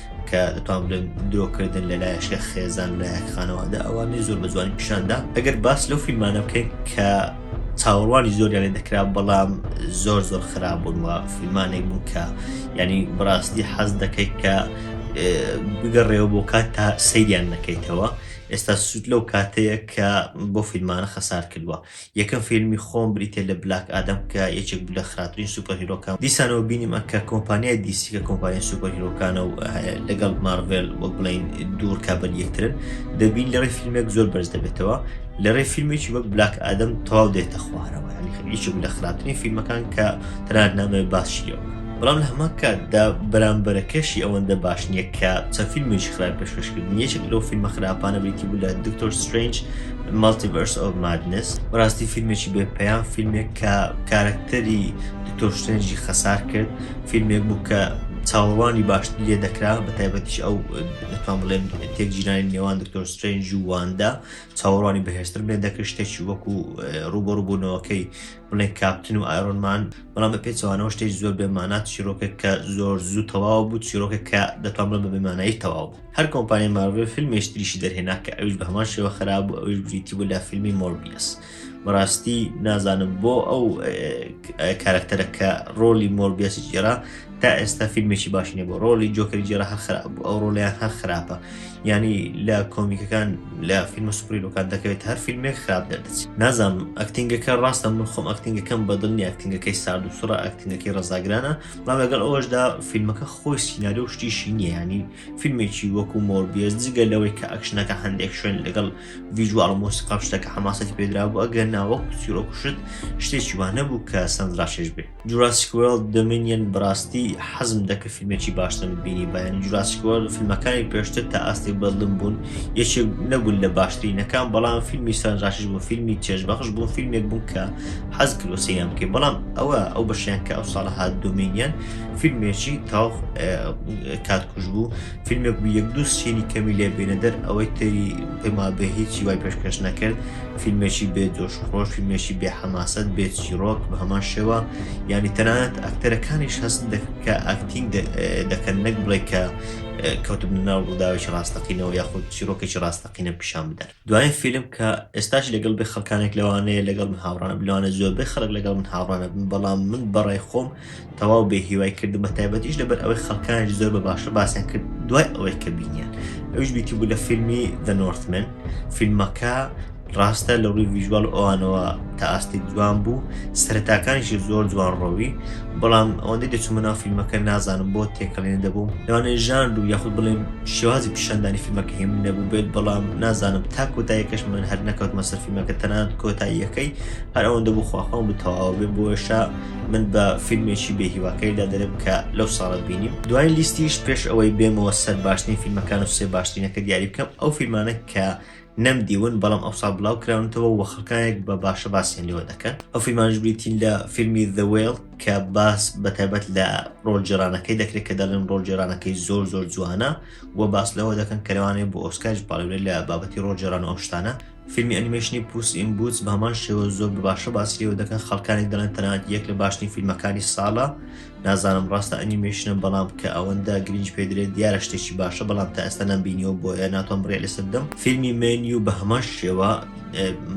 کە دەتوان بڵێم درۆکردن لە لایەکە خێزان لایەک خانەوادە ئەوانەی زۆر بە جوانی پیشاندا ئەگەر باس لەو فیلمانە بکەین کە چاوەڕوانی زۆریان لێ دەکرا بەڵام زۆر زۆر خراپ بوون وە فیلمانێک بوو کە ینی بڕاستی حەز دەکەیت کە بگەڕێەوە بۆ کات تا سەیریان نەکەیتەوە ئێستا سوود لەو کاتەیە کە بۆ فیلمانە خەسار کردووە یەکەم فیلمی خۆم بریتیە لە بلاک ئادەم کە یەکێک بوو لە خراپترین سوپەر هیرۆکان دیسانەوە بینیمە کە کۆمپانیای دیسی کە کۆمپانیای سوپەر هیرۆکانە و لەگەڵ مارڤێل وەک بڵین دوور کابل یەکترن دەبین لەڕێ فیلمێک زۆر بەرز دەبێتەوە لەڕێ فیلمێکی وەک بلاک ئادەم تەواو دێتە خوارەوە یەکێک لە خراپترین فیلمەکان کە تەنات نامێ باشیەوە بەڵام لە هەمان کاتدا بەرامبەرەکەشی ئەوەندە باش نییە کە چەند فیلمێکی خراپ پێشکەشکردن یەکێک لەو فیلمە خراپانە بریتی بوو لە دکتۆر سترنج Multiverse of Madness، بەڕاستی فیلمێکی بێ پەیام، فیلمێک کە کارەکتەری دکتۆر سترێنجی خەسار کرد، فیلمێک بوو کە چاوەڕوانی باشتری لێ دەکرا، بە تایبەتیش ئەو دەتوان بڵێن تێکجیرانی نێوان دکتۆر سترێنج و واندا چاوەڕوانی بەهێزترم لێ دەکرد، شتێکی وەکو ڕووبەڕووبوونەوەکەی بڵێن کاپتن و ئایرۆنمان، بەڵام بە پێچەوانەوە شتێکی زۆر بێمانا، چیرۆکێک کە زۆر زوو تەواو بوو، چیرۆکێک کە دەتوان بڵێن بە بێمانایی تەواو بوو. هەر کۆمپانیای مارڤێل فیلمێش تریشی دەرهێنا کە ئەوش بە هەمان شێوە خراپ بوو ئەوش بریتی بوو لە فیلمی مۆربیس بەڕاستی نازانم بۆ ئەو کارکتەرە کە ڕۆلی مۆربیسی جێرا تا ئێستا فیلمێکی باش نیە بۆ ڕۆلی جۆکەری جێرا هەر خراپ بوو ئەو ڕۆلیان هەر خراپە ینی لە کۆمیکەکان لە فیلمە سوپریلۆکان دەکەوێت هەر فیلمێک خراپ دەردەچ نازانم ئەکتنگەکە ڕاستە من خۆم ئەکتنگەکەم بەدڵنی ئەکتنگەکەی سارد و سوڕە ئەکتنگەکەی ڕزاگرانە بەڵام لەگەڵ ئەوەشدا فیلمەکە خۆی سینناریۆ و شتیشی نییە ینی فیلمێکی وەکو مۆربیێز جگە لەوەی کە ئەکشنەکە هەندێک شوێن لەگەڵ ویژوال مۆسی قاپشتەکە حماسەتی پێدرا بوو ئەگەر ناوەک سیرۆکوشت شتێکی وانە بوو کە سندراشێش بێ جوراسیکوێڵ دەمینیەن بڕاستی حەزم دەکە فیلمێکی باشتر بینی بەیان جوراسیکوەل فیلمەکانی پێشتر تا ئاستی بەڵم بوون یەکێک نەبوون لە باشترینەکان بەڵام فیلمی سندراشش بۆ فیلمی چێژبەخش بۆ فیلمێک بوو کە حەز کردوە سەیریان بکەی بەڵام ئەوە ئەو بەشیان کە ئەو ساڵە هات دۆمینیان فیلمێکی تاو کاتکوش بوو فیلمێک بوو یەک دوو سینی کەمی لێ بێنە دەر ئەوەی تری پێما بە هیچی وای پێشکەش نەکرد فیلمێکی بێ جۆش خۆش فیلمێکی بێ حەماسەت بێ چیرۆک بە هەمان شێوە ینی تەنانەت ئەکتەرەکانیش هەست کە ئاکتینگ دەکەن نەک بڵێ کە کەوتم ناو ڕووداوێکی ڕاستەقینەوە یاخود چیرۆکێکی ڕاستەقینە پیشان بدەن دوایین فیلم کە ئێستاش لەگەڵ بێ خەڵکانێک لەوانەیە لەگەڵ من هاوڕانم لەوانە زۆربەی خەڵک لەگەڵ من هاوڕانە بن بەڵام من بەڕای خۆم تەواو بێ هیوای کردم بە تایبەتیش لەبەر ئەوەی خەڵکانێک زۆر بە باشە باسیان کرد دوای ئەوەی کە بینیان ئەوش بیتی بوو لە فیلمی The Northman فیلمەکە ڕاستە لە ڕووی ویژوال ئەوانەوە تا ئاستی جوان بوو سەرتاکانیشی زۆر جوان ڕۆوی بەڵام ئەوەندەی دەچوومە ناو فیلمەکە نازانم بۆ تێکەڵێن دەبووم لەوانەیە ژان و یاخود بڵێم شێوازی پیشاندانی فیلمەکە هێم نەبوو بێت بەڵام نازانم تا کۆتاییەکەش من هەر نەکەوتمە سەر فیلمەکە تەنانەت کۆتاییەکەی هەر ئەوەندە بوو خواخوام بتەواوە بێ بۆشە من بە فیلمێکی بێهیواکەیدا دەرم کە لەو ساڵە بینیم دوای لیستیش پێش ئەوەی بێمەوە سەر باشترین فیلمەکان و سێ باشترینەکە دیاری بکەم ئەو فیلمانە کە نەم دیون بەڵام ئەوساڵ بلاو کراونەتەوە و خەڵکانێک بە باشە باسیان لێوە دەکەن ئەو فیلمانش بریتین لە فیلمی The Whale کە باس بە تایبەت لە ڕۆل جێرانەکەی دەکرێت کە دەڵێن ڕۆل جێرانەکەی زۆر زۆر جوانە و باس لەوە دەکەن کەروانێ بۆ ئۆسکارج پاڵێ لە بابەتی ڕۆ جێران ئەو شتانە فیلمی ئەنیمەشنی پوس ئین بوتس بە هەمان شێوە زۆر بە باشە باسی لێوە دەکەن خەڵکانی دەڵێن تەنات یەک لە باشترین فیلمەکانی ساڵە نازانم ڕاستە ئەنیمەیشنە بەڵام کە ئەوەندە گرنج پێدرێت دیارە شتێکی باشە بەڵام تا ئێستا نەم بینیەوە بۆیە ناتوان بڕێ لەسەر بدەم فیلمی مێنی و بە هەمان شێوە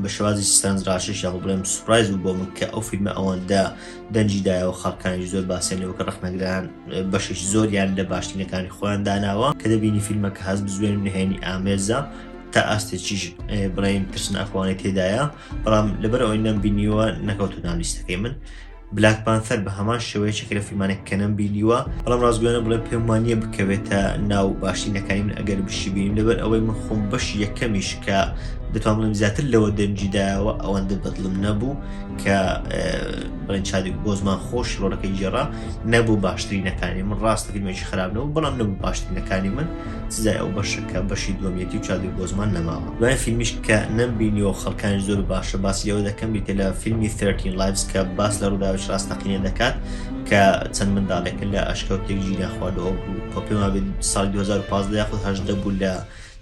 بە شێوازی سانز ڕاشش یاخ بڵێم سوپرایز و بۆ من کە ئەو فیلمە ئەوەندە دەنجی دایەوە خەڵکانی زۆر باسیێن لەوە کە ڕخنەگران بەشش زۆریان لە باشترینەکانی خۆیان داناوە کە دەبینی فیلمە کە هەز بزوێن نهێنی ئامێزە تا ئاستێکیش بڵێن ترسناخوانێت تێدایە بەڵام لەبەر ئەوەی نەمبینیوە نەکەوتو نالیستەکەی من بلاک پانثەر بە هەمان شێوەیە چەکە لە فیلمانێک کە نەم بینیوە بەڵام ڕاستگویانە بڵێ پێم وانە بکەوێتە ناو باشترینەکانی من ئەگەر بشی بینیم لەبەر ئەوەی من خۆم بەش یەکەمیش کە دەتوان بڵێم زیاتر لەوە دەنجیدایەوە ئەوەندە بەدڵم نەبوو کە بڵێن چادێک بۆ زمان خۆش ڕۆلەکەی جێڕا نەبوو باشترینەکانی من ڕاستە فیلمێکی خراپنەوە بەڵام نەبوو باشترینەکانی من سزای ئەو بەشە کە بەشی دووەمیەتی و چادی بۆزمان نەماوە دوای فیلمیش کە نەمبینیەوە خەڵکانی زۆر باشە باسی لەوە دەکەم بیتە لە فیلمی 13 لایڤز کە باس لە ڕووداوش ڕاستەقینە دەکات کە چەند منداڵێکە لە ئەشکەوتێک ژینا خواردەوە بوو کۆ پێما بێت ساڵ 2015 یاخود هەشدە بوو لە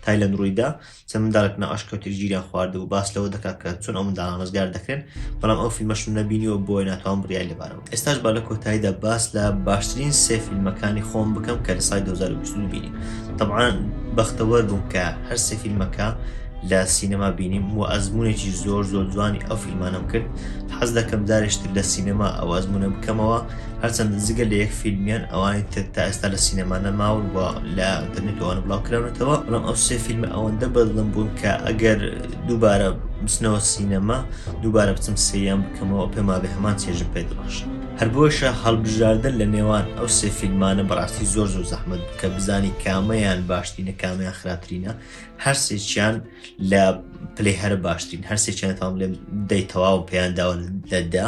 تایلند ڕوویدا چەند منداڵێک نائاشکەوتێک گیریان خواردبوو باس لەوە دەکات کە چۆن ئەو منداڵان ڕزگار دەکرێن بەڵام ئەو فیلمەشم نەبینیوە بۆیە ناتوان بڕیای لەبارەوە ئێستاش با لە کۆتاییدا باس لە باشترین سێ فیلمەکانی خۆم بکەم کە لە سای 2022 بینیم طبعاان بەختەوەر بووم کە هەر سێ فیلمەکە لە سینەما بینیم و ئەزمونێکی زۆر زۆر جوانی ئەو فیلمانم کرد حەز دەکەم دارێشتر لە سینەما ئەو ئەزمونە بکەمەوە هەرچەند جگە لە یەک فیلمیان ئەوانی تر تا ئێستا لە سینەما نەماون و لە ئەتەرنێت ئەوانە بڵاوکراونەتەوە بەڵام ئەو سێ فیلمە ئەوەندە بەدڵم بوون کە ئەگەر دووبارە بچنەوە سینەما دووبارە بچم سریان بکەمەوە پێما بێ هەمان چێژم پێ دەبەشن هەر بۆیشە هەڵبژاردن لە نێوان ئەو سێ فیلمانە بەڕاستی زۆر زۆر زەحمت بکە بزانی کامەیان باشترینە کامیان خراپترینە هەرسێکیان لە پلەی هەر باشترین هەرسێکیان تاام لێ دەی تەواو پێیان داوە لەدا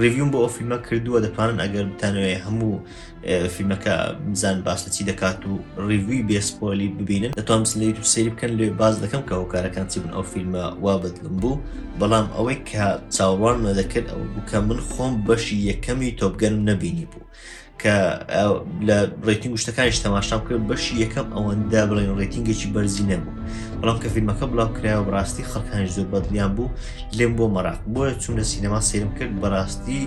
ڕیڤیوم بۆ ئەو فیلمە کردووە دەتوانن ئەگەر بتانوێ هەموو فیلمەکە بزان باسە چی دەکات و ڕیڤوی بێسپۆلی ببینن دەتوان بسن لە یوتوب سری بکەن لێ باز دەکەم کە هۆکارەکان چی بن ئەو فیلمە وا بەدلم بوو بەڵام ئەوەی کە چاوەڕوان نەدەکرد ئەو بوو کە من خۆم بەشی یەکەمی تۆپگەنم نەبینی بوو کە لە ڕێتنگ گوشتەکانیش تەماشام کرد بەشی یەکەم ئەوەندە بڵێن ڕێتنگێکی بەرزی نەبوو بەڵام کە فیلمەکە بڵاو کراوە بڕاستی خەڵکان زۆر بەدڵیان بوو لێم بۆ مەراق بۆە چوونە سینەما سێرم کرد بەڕاستی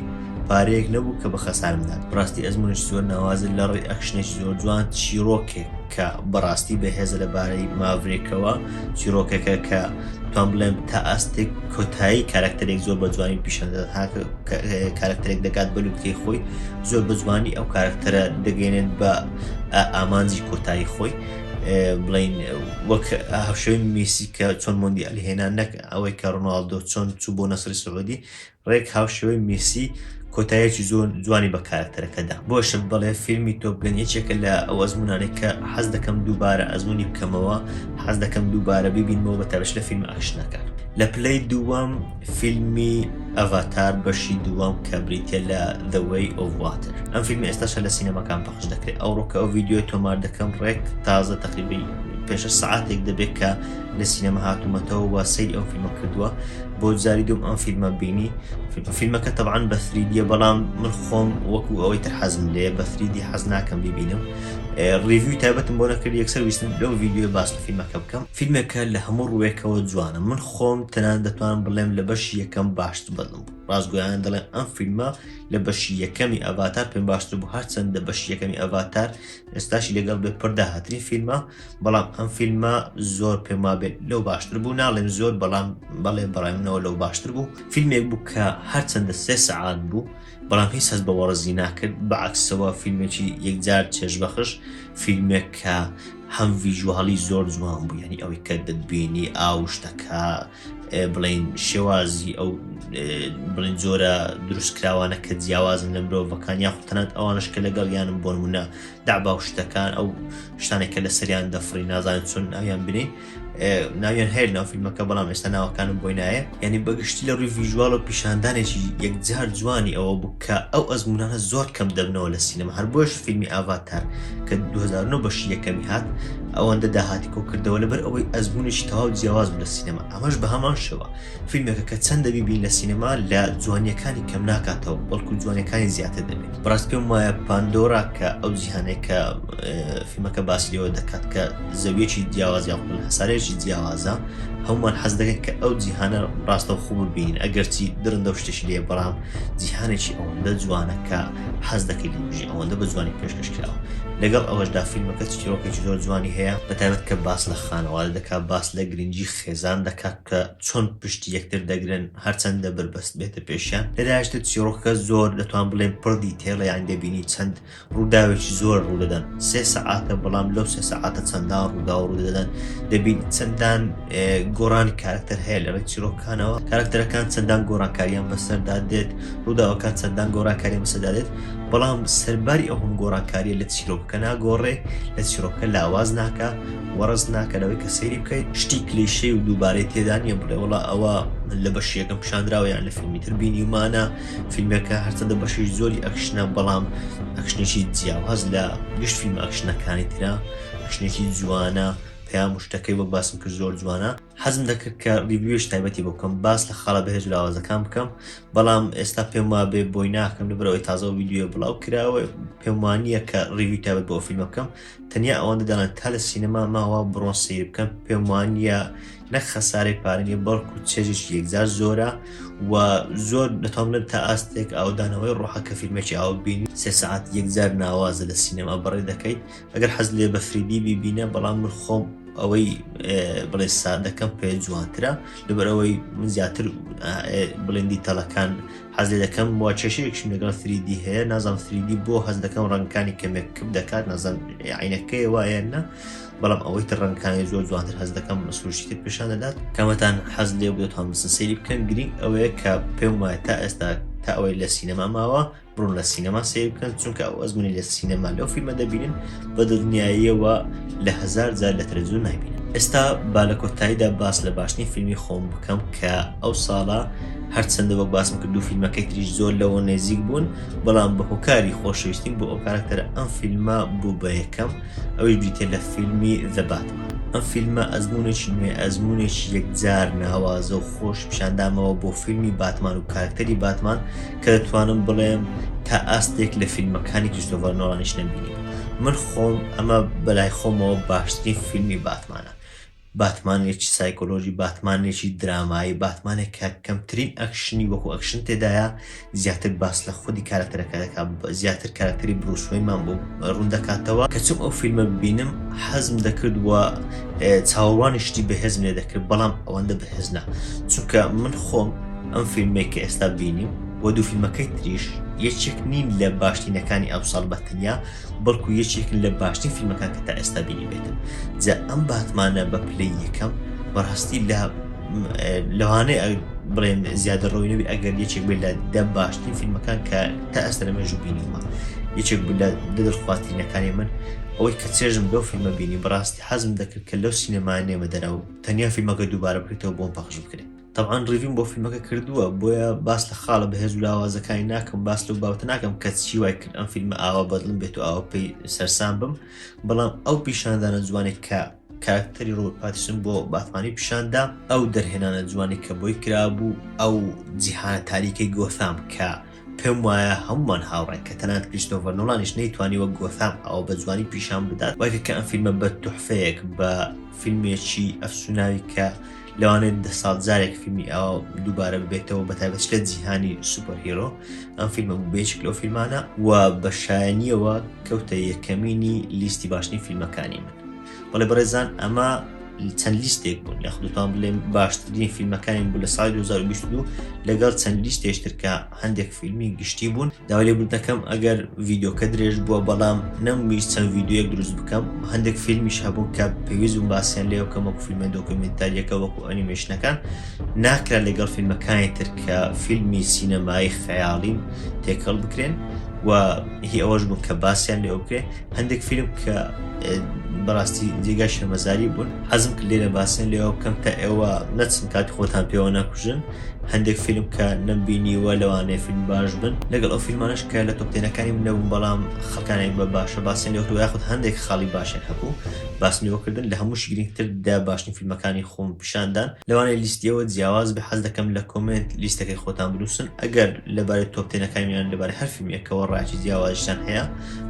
پارەیەک نەبوو کە بە خەسارمدات بڕاستی ئەزمونش زۆر ناوازن لە ڕێ ئەکشنێکی زۆر جوان چیرۆکێک کە بەڕاستی بەهێزە لە بارەی ماڤرێکەوە چیرۆکەکە کە توان بڵێم تا ئاستێک کۆتایی کارکتەرێک زۆر بە جوانی پیشاندەدات ها کارکتەرێک دەکات بە لوتکەی خۆی زۆر بە جوانی ئەو کارکتەرە دەگەێنێت بە ئامانجی کۆتایی خۆی بڵین وەک هەشوی میسی کە چۆن مندی ئەلهێنا نەک ئەوەی کە ڕناالدۆ چۆن چوو بۆ نەسری سعودی ڕێک هاوشێوەی مێسی کۆتایەکی زۆر جوانی بە کارەکتەرەکەدا بۆشم بڵێ فیلمی تۆپگەن یەکێکە لە ئەو ئەزمونانێک کە حەز دەکەم دووبارە ئەزمونی بکەمەوە حەز دەکەم دووبارە ببینمەوە بە تەبش لە فیلم ئاکشنەکە لە پلەی دووەم فیلمی ئەڤاتار بەشی دووەم کە بریتە لە The Way of Water ئەم فیلم ئێستاشە لە سینەماکان پەخش دەکرێت ئەو ڕۆکە ئەو ویددیوی تۆمار دەکەم ڕێک تازە تەقیبی پێشە سعاتێک دەبێت کە لە سینەمە هاتوومەتەوە وە سەی ئەو فیلمە کردووە بۆ جاری دوم ئەم فیلمە بینی فیلمەکە تەبان بە فریدیە بەڵام من خۆم وەکو ئەوەی تر حەزم لێ بە فریدی حەز ناکەم ببینم ڕیوی تایبەتم بۆ نەکرد یەکسەر ویستم لەو ڤیددیو باس لە فیلمەکە بکەم فیلمەکە لە هەموو ڕوێکەوە جوانە من خۆم تەنان دەتوان بڵێم لە بەش یەکەم باشت بەڵم ڕاستگویان دەڵێن ئەم فیلمە لە بەشی یەکەمی ئەڤاتار پێم باشتر بوو هەرچەندە بەشی یەکەمی ئەڤاتار ئێستاشی لەگەڵ بێ پرداهاتری فیلمە بەڵام ئەم فیلمە زۆر پێم وابێت لەو باشتر بوو ناڵێم زۆر بەڵام بەڵێ بەڕێمنەوە لەو باشتر بوو فیلمێک بوو کە هەرچەندە سێ سەعات بوو بەڵام هیچ هەست بە وەڕزی ناکرد بەعکسەوە فیلمێکی یەکجار چێژبەخش فیلمێک کە هەم ڤیژواڵی زۆر جوان بوو ینی ئەوەی کە دەبینی ئاو شتەکە بڵین شێوازی ئەو بڵین جۆرە دروستکراوانە کە جیاوازن لە مرۆڤەکان یاخ تەنات ئەوانش کە لەگەڵ یانم بۆنمونە دابا و شتەکان ئەو شتانێک کە لە سەریان دەفری نازانێت چون ناویان بنێ ناویان هەیە ناو فیلمەکە بەڵام ئێستا ناوەکانم بۆی نایە یعنی بەگشتی لە ڕووی ڤژوال و پیشاندانێکی یەکجار جوانی ئەوە بوو کە ئەو ئەزمونانە زۆر کەم دەبنەوە لە سینەما هەر بۆش فیلمی ئاڤاتار کە 2009 بەشی یەکەمی هات ئەوەندە داهاتی کۆکردەوە لەبەر ئەوەی ئەزمونێکی تەواو جیاواز لە سینەما ئەمەش بە هەمان شەوە فیلمێکە کە چەندە بیبین لە سینەما لە جوانیەکانی کەم ناکاتەوە بەڵکو جوانیەکانی زیاتر دەبێت بەڕاست پێم وایە پاندۆرا کە ئەو جیهانێک کە فیلمەکە باسیەوە دەکات کە زەویەکی جیاواز یاخود هەسارێکی جیاوازە هەومان حەز دەکەن کە ئەو جیهانە ڕاستە خۆ ببین ئەگەرچی درندە و شتێکی لێ بەڵام جیهانێکی ئەوەندە جوانە کە حەز دەکەی لە بژی ئەوەندە بە جوانی پێشکەش کراوە لەگەڵ ئەوەشدا فیلمەکە چیرۆکێکی زۆر جوانی هەیە بەتابەت کە باس لە خانەوادە دەکات باس لە گرنگی خێزان دەکات کە چۆن پشتی یەکتر دەگرن هەرچەندە بەربەست بێتە پێشیان لەداشتە چیڕۆکەکە زۆر دەتوان بڵێن پڕدی تێڵیان دەبینی چەند ڕووداوێکی زۆر ڕوودەدەن سێ سەعاتە بەڵام لەو سێ سەعاتە چەندان ڕوودا و ڕوودەدەن دەبین چەندان گۆڕان کارکتەر هەیە لە ڕێ چیرۆکانەوە کارکتەرەکان چەندان گۆڕانکاریان بەسەردا دێت ڕووداوەکان چەندان گۆڕانکاری بەسەدا دێت بەڵام سەرباری ئەو هەم گۆڕانکاریە لە چیرۆکەکە ناگۆڕێ لە چیرۆکە لاواز ناکە وەڕز ناکە لەوەی کە سەیری بکەیت شتی کلیشەی و دووبارەی تێدا نییە بڵێ وڵا ئەوە لە بەشی یەکەم پیشاندراوە یان لە فیلمی تر بینیمانە فیلمەکە هەرچەندە بەشی زۆری ئەکشنە بەڵام ئەکشنێکی جیاواز لە گشت فیلم ئەکشنەکانی تررا ئەکشنێکی جوانە پیا مشتەکەی وەک باسم کرد زۆر جوانە حەزم دەکرد کە ریویش تایبەتی بکەم باس لە خاڵە بەهێز لاوازەکان بکەم بەڵام ئێستا پێم وا بێ بۆی ناکەم لەبەرەوەی تازە ویددیوە بڵاو کراوە پێم وانە کە ریوی تایبەت بۆ فیلم بکەم تەنیا ئەوەندە دەڵێن تا لە سینەما ماوە بڕۆن سەیر بکەن پێم وانە نەک خەسارەی پارنیە بەڵکو چێژش یەکجار زۆرە و زۆر دەتوانێت تا ئاستێک ئاودانەوەی ڕۆحە کە فیلمێکی ئاو بینی سێ سعات یەکجار ناوازە لە سینەما بڕێ دەکەیت ئەگەر حەز لێ بەفریدی بیبینە بەڵام من خۆم ئەوەی بڵێ سادەکەم پێ جوانترە لەبەرەوەی من زیاتر بڵێندی تەلەکان حەز لێ دەکەم وە کێشەیەکشم لەگەڵ سری دی هەیە نازانم سری دی بۆ هەست دەکەم ڕەنگەکانی کەمێک کپ دەکات نازانم عینەکەی وایە نە بەڵام ئەوەی تر ڕەنگەکانی زۆر جوانتر هەست دەکەم سروشتی تر پیشان دەدات کەمەتان حەز لێ بێت هەمسن سری بکەن گرنگ ئەوەیە کە پێم وایە تا ئێستا تا ئەوەی لە سینەما ماوە بڕون لە سینەما سیر بکەن چونکە ئەو ئەزمونی لە سینەما لەو فیلمە دەبینن بە دڵنیاییەوە لە هزار جار لە تەلەزیۆن نایبینن ئێستا با لە کۆتاییدا باس لە باشترین فیلمی خۆم بکەم کە ئەو ساڵە هەرچەندە وەک باسم کرد دوو فیلمەکەی تریش زۆر لەوە نێزیک بوون بەڵام بە هۆکاری خۆشەویستیم بۆ ئەو کارکتەرە ئەم فیلمە بوو بە یەکەم ئەوەی بریتە لە فیلمی دەباتمان ئەم فیلمە ئەزمونێکی نوێ ئەزمونێکی یەکجار ناوازە و خۆش پیشاندامەوە بۆ فیلمی باتمان و کارکتەری باتمان کە دەتوانم بڵێم تا ئاستێک لە فیلمەکانی کریستۆڤەر نۆڵانیش نەبینی من خۆم ئەمە بەلای خۆمەوە باشترین فیلمی باتمانە باتمانێکی سایکۆلۆژی، باتمانێکی درامایی، باتمانێک کە کەمترین ئەکشنی وەکو ئەکشن تێدایە، زیاتر باس لە خودی کاراکتەرەکە دەکات، زیاتر کاراکتەری بروس وەینمان بۆ ڕوون دەکاتەوە. کە چووم ئەو فیلمە ببینم حەزم دەکرد و چاوەڕوانی شتی بەهێزم لێ دەکرد، بەڵام ئەوەندە بەهێز نا، چونکە من خۆم ئەم فیلمەی کە ئێستا بینیم و دوو فیلمەکەی تریش یەکێک نین لە باشترینەکانی ئەمساڵ بە تەنیا، بەڵکو یەکێکن لە باشترین فیلمەکان کە تا ئێستا بینیبێتم جا ئەم باتمانە بە پلەی یەکەم بەڕاستی لە لەوانەیە بڵێن زیادە ڕۆینەوی ئەگەر یەکێک بێت لە دە باشترین فیلمەکان کە تا ئەستە لە مێژوو بینیمە یەکێک لە دەدرخواترینەکانی من ئەوەی کە چێژم لەو فیلمە بینی بەڕاستی حەزم دەکرد کە لەو سینەما نێمە دەرەوە تەنیا فیلمەکە دووبارە بکرێتەوە بۆم پەخش بکرێت تەبعەن ڕیڤیم بۆ فیلمەکە کردووە بۆیە باس لە خاڵە بەهێز و لاوازەکانی ناکەم باس لەو باوتە ناکەم کە چی وای کرد ئەم فیلمە ئاوا بەدڵم بێت و ئاوا پێی سەرسان بم بەڵام ئەو پیشاندانە جوانێک کە کاراکتەری ڕۆ پاتیسن بۆ باتمانی پیشاندا ئەو دەرهێنانە جوانی کە بۆی کرابوو ئەو جیهانە تاریکەی گۆثام کە پێم وایە هەمووان هاوڕێن کە تەنات کریستۆڤەر نۆڵانیش نەیتوانی وەک گۆثام ئەوە بە جوانی پیشان بدات وەکە کە ئەم فیلمە بە تحفەیەک بە فیلمێکی ئەفسوناوی کە لەوانێت دە ساڵ جارێک فیلمی ئەوە دووبارە ببێتەوە بە تایبەت لە جیهانی سوپەر هیرۆ ئەم فیلمە بێچک لەو فیلمانە و بە شایەنیەوە کەوتە یەکەمینی لیستی باشترین فیلمەکانی من بەڵێ بەڕێزان ئەمە چەند لیستێک بوون لە خودتان بڵێم باشترین فیلمەکانی بوو لە سای 2022 لەگەڵ چەند لیستێشتر کە هەندێک فیلمی گشتی بوون داوای بوو دەکەم ئەگەر ڤیددیوکە درێژ بووە بەڵام نەمویست چەند ڤیددیوەک دروست بکەم هەندێک فیلمیش هەبوو کە پێویست و باسییان لێ بکەم وەکو فیلمە دۆکمنتاریەکە وەکو ئەنیمێشنەکان ناکرا لەگەڵ فیلمەکانی تر کە فیلمی سینەمایی خەیاڵین تێکەڵ بکرێن و هی ئەوەش بوو کە باسییان لێ بکرێن هەندێک فیلم کە بەڕاستی جێگای شەرمەزاری بوون حەزم کرد لێرە باسن لێەوە بکەم کە ئێوە نەچن کاتی خۆتان پێوە نەکوژن هەندێک فیلم کە نەمبینیوە لەوانەیە فیلم باش بن لەگەڵ ئەو فیلمانش کە لە تۆپتێنەکانی من نەبوون بەڵام خەکانێک بە باشە باسن لێ هەروە خود هەندێک خاڵی باشێک هەبوو باسنیوەکردن لە هەموو شگرنگتر دا باشترین فیلمەکانی خۆم پیشاندان لەوانەیە لیستیەوە جیاواز بە حەز دەکەم لە کۆمنت لیستەکەی خۆتان بنووسن ئەگەر لەبارەی تۆپتێنەکانیان لەبارەی هەر فیلمێکەوە ڕاکی جیاوازشتان هەیە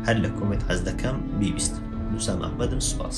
هەر لە کۆمێت حەز دەکەم بیبیستم نووسام ئەحمەدم سوپاس.